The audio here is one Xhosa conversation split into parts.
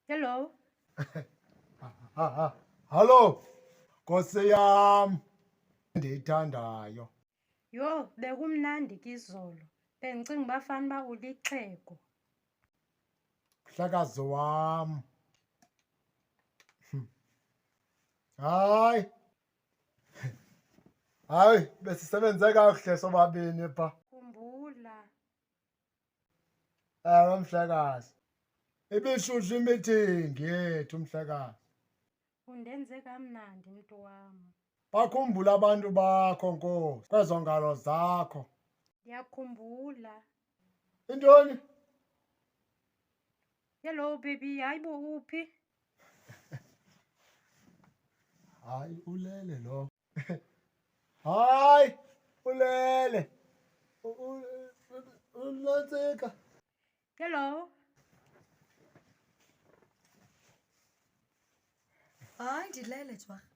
Hello. Hallo, Nkosi yam ndiyithandayo. Yho, bekumnandi ke izolo. Bendicinga uba fanuba ulixhego. mhlakazi wam hm. hayi hayi besisebenze kakuhle sobabini pha khumbula ewe mhlekazi ibishushu imithingi yethu mhlekazi Undenze kamnandi mntu wam. Bakhumbula abantu bakho, Nkosi, kwezo ngalo zakho. Ndiyakhumbula. Intoni? Hello baby, hayi bo uphi? Hayi, ulele lo. Hayi, ulele. U- u- u- Unantsika. Hello. Hayi ndilele jwarha.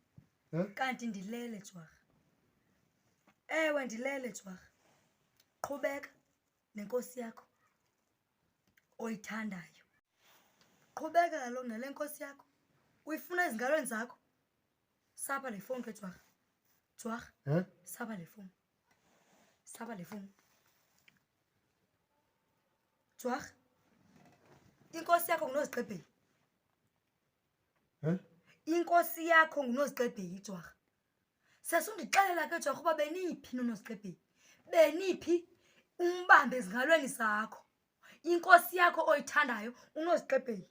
Huh? Kanti ndilele jwarha. Ewe ndilele jwarha. Qhubeka nenkosi yakho oyithandayo. Qhubeka kaloku nale nkosi yakho. Uyifuna ezingalweni zakho. Saba le fowuni ke jwarha. Jwarha, Huh? saba le fowuni. Saba le fowuni. Jwag, inkosi yakho nguNozixebheli. Huh? Inkosi yakho nguNozixebheli, Jwag. Sesundixelela ke Jwag uba beniphi noNozixebheli. Beniphi umbambe ezingalweni zakho. Inkosi yakho oyithandayo uNozixebheli.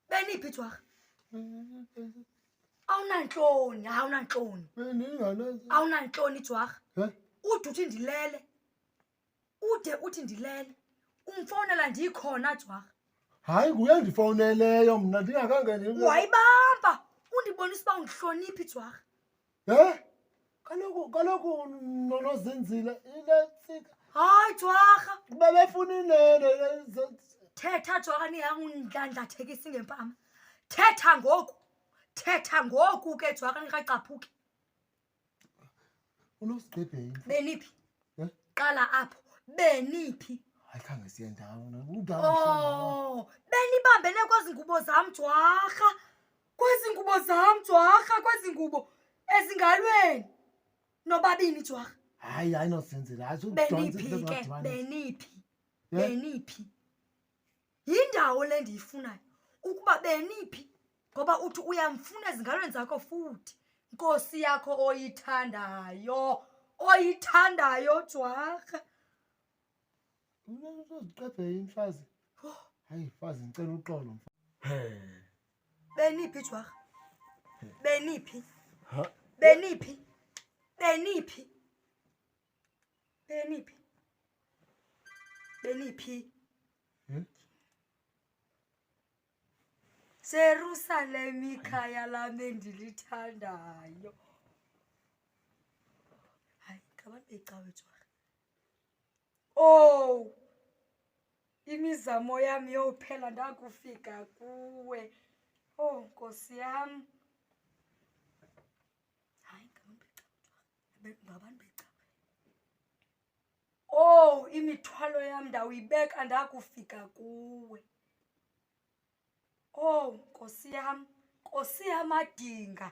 beniphi ithwarha awunantloni awunantloni awunantloni ithwarha ude uthi ndilele ude uthi ndilele umfowunela ndiyikhona ithwarha hayi nguye ndifowuneleyo mna ndingakangeni wayibamba undibonisa uba undihloniphi ithwarha Eh? Kaloku kaloku nonozinzile ile tsika. Hayi jwarha. Bebefuna inene. Thetha jwarha niyangundlandlathekisi ngempama. Thetha ngoku. Thetha ngoku ke jwarha nikacaphuki. Unosigqibhe yini? Beniphi? Eh? Qala apho. Beniphi? Hayi khange siye ndawo. Oh, benibambene kwezi ngubo zam jwarha. kwezi ngubo zam jwarha kwezi ngubo ezingalweni nobabini jwarha hayi hayi nosenzela beniphi ke beniphi beniphi yindawo le ndiyifunayo ukuba beniphi ngoba uthi uyamfuna ezingalweni zakho futhi nkosi yakho oyithandayo oyithandayo jwarha Mna uzoziqeda imfazi. Hayi mfazi ngicela uxolo mfazi. Beniphi jwarha? Beniphi? Ha? Beniphi? Beniphi? Beniphi? Beniphi? Hmm? Jerusalem ikhaya lami endilithandayo. Hayi, ngabambe icawe jwarha. owu oh, imizamo yam yophela ndakufika kuwe owu oh, nkosi yam hayi ngabantu beca owu oh, imithwalo yam ndawuyibeka ndakufika kuwe owu nkosi yam nkosi yamadinga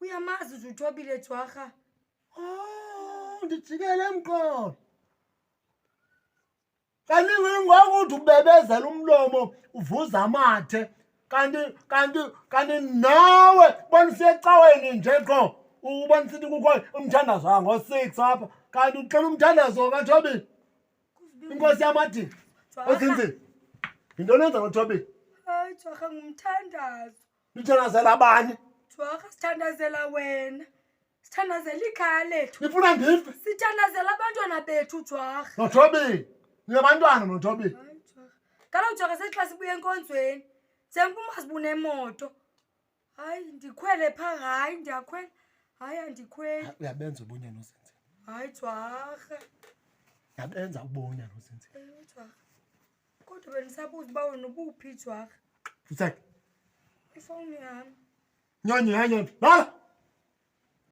uyamazi nje uthobile jwarha Oh, ndijikele emqolo kanti ngokuthi ubebezela umlomo uvuza amathe kanti kanti kanti nawe bona usecaweni nje qo ubona sithi kukho umthandazo wango-six apha kanti uxela umthandazo kathobile inkosi yamadini ozinzini yintoni enza ngothobile hayi jwarha ngumthandazo Nithandazela abani? Thwaka sithandazela wena. Sithandazela ikhaya lethu. Nifuna ndife? Sithandazela abantwana bethu Thwaka. Nothobeni. Niyabantwana nothobeni. Kaloku Thwaka sexa sibuye enkonzweni. Sengu masibune imoto. Hayi ndikhwele pha hayi ndiyakhwela. Hayi andikhweli. Uyabenza ubunya nozinzi. Hayi Thwaka. Yabenza ubunya nozinzi. Ewe Thwaka. kodwa bendisabuza uba wena ubuphi jwarha Futsek. ifowuni yam Nyonyi, ha nyonyi. Bala.